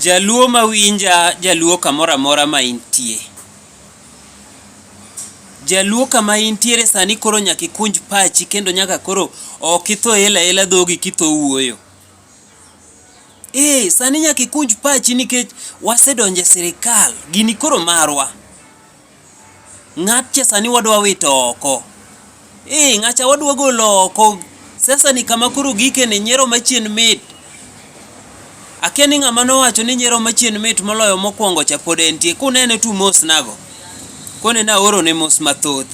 Jaluo mawinja jaluo kamoro amora ma intie. Jaluo kama intiere sani koro nyaka ikunj pachi kendo nyaka koro ok itho ela ela dhogi kitho wuoyo. Ee, sani nyaka ikunj pachi nikech wasedonjo e sirikal, gini koro marwa. Ng'at cha sani wadwa wito oko. Ee, ng'at cha wadwa golo oko. Siasa ni kama koro gike ni nyiero machien mit. Akia ni ng'ama nowacho ni nyiero machien mit moloyo mokwongo cha pod entie. Kunene tu mos nago. Kone na oro ne mos mathoth.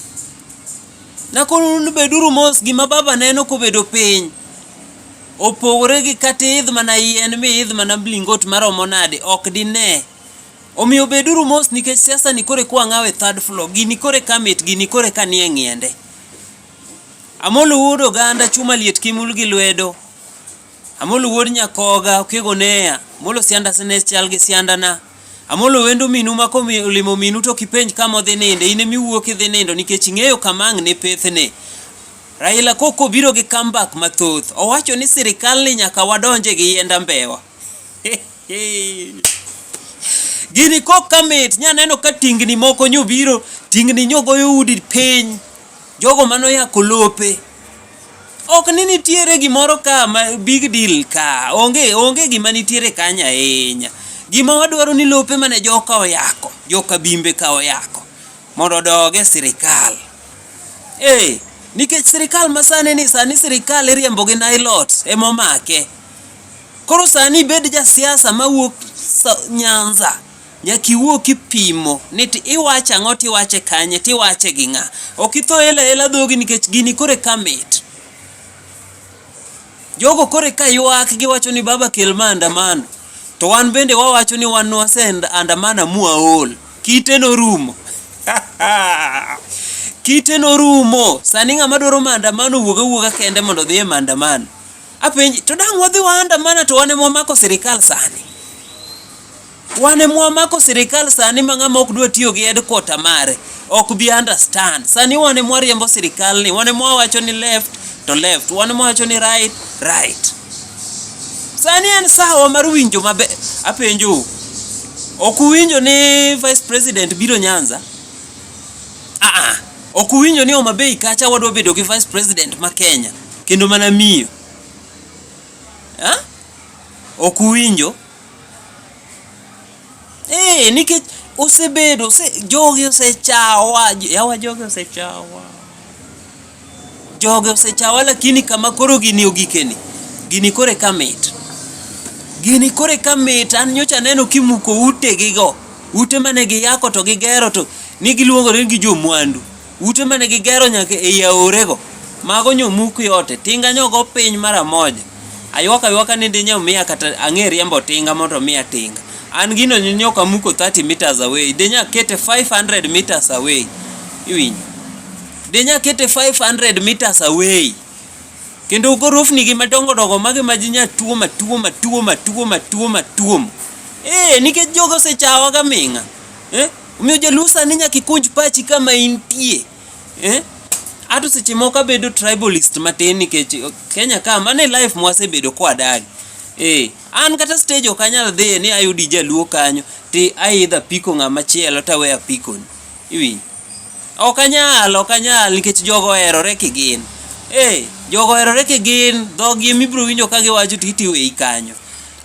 Na koro beduru mos gima baba neno kobedo piny. Opogore gi kata idh mana yien mi idh mana blingot maromo nade ok dine. Omiyo beduru mos nikech siasa ni kore kwa ng'awe third floor, gini kore ka mit, gini kore ka nie ng'iende. Amolo wuod oganda chuma liet kimul gi lwedo. Amolo wuod nyakoga okego neya, molo sianda sene chal gi sianda na. Amolo wendo minu ma komi olimo minu to kipenj kama odhi ninde, in emi wuok idhi nindo nikech ing'eyo kama ang' ne pethne. Raila koko biro gi comeback mathoth. Owacho ni sirikal ni nyaka wadonje gi yienda mbewa. Gini kok kamit nya neno ka tingni moko nyobiro tingni nyogoyo udi piny jogo mano ya kolope ok ni nitiere gimoro ka ma big deal ka onge onge gima nitiere kanya ahinya gima wadwaro ni lope mane joka oyako joka bimbe ka oyako mondo odoge sirikal eh nikech sirikal masani ni sani sirikal iriembo gi nailot emomake Koro sani ibed ja siasa mawuok Nyanza nyaka iwuo kipimo ni iwacho ang'o tiwache kanye tiwache gi ng'a. Ok itho ela ela dhogi nikech gini kore ka mit. Jogo kore ka ywak giwacho ni baba kel maandamano. To wan bende wawacho ni wan wase andamana mwaol. Kite norumo. Kite norumo. Sani ng'ama dwaro maandamano wuog awuoga kende mondo odhi e maandamano. Apenji, to dang' wadhi wa andamana to wan ema wamako sirikal sani. Wan ema wamako sirikal sani ma ng'ama ok dwa tiyo gi headquarter mare ok bi understand. Sani wan ema wariembo sirikal ni, wan ema wawacho ni left to left, wan ema wawacho ni right, right. Sani en sawa mar winjo maber. Apenjou, ok uwinjo ni vice president biro Nyanza? Ah ah, ok uwinjo ni Homa Bay kacha wadwa bedo gi vice president ma Kenya. kendo mana miyo ha? ok uwinjo eh nikech osebedo ose, jogi osechawa yawa jogi osechawa jogi osechawa lakini kama koro gini ogikeni gini kore ka mit gini kore ka mit an nyocha neno kimuko ute gigo ute mane giyako to gigero to ni giluongo ni gi jomwandu Ute mane gigero nyaka ei aorego, mago nyomuki ote, tinga nyogo piny mara moja. Aywak aywaka ni dinyo miya kata ang'e riembo tinga mondo miya tinga. An gino nyoka muko 30 meters away, dinya kete 500 meters away. Iwinjo? Dinya kete 500 meters away. Kendo gorofni gi madongo dongo magi ma jinya tuo matuo matuo matuo matuo matuo. Eh, nikech jogo osechawa ga ming'a. eh? Omiyo jaluo sani nyaka ikunj pachi kama intie eh? Ato seche moko abedo tribalist matin nikech Kenya ka mano e life mwasebedo kwadagi eh. An kata stage ok anyal dhiye ni ayudi jaluo kanyo ti aidha piko ng'ama chielo tawe apikoni iwinjo Ok anyal, ok anyal nikech jogo oherore kigin. Ee, jogo oherore kigin, dhogi ema ibiro winjo ka giwacho to iti iweyi kanyo.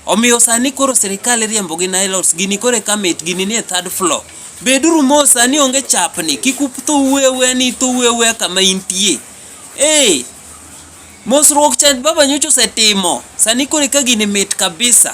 Omiyo sani koro sirkal iriembo gi nylons, gini koro eka mit, gini nie third floor. Beduru mos sani onge chapni, kik utho uwe awuya ni itho uwe awuya kama intie. Ee, mosruok cha baba nyocha osetimo, sani koro eka gini mit kabisa.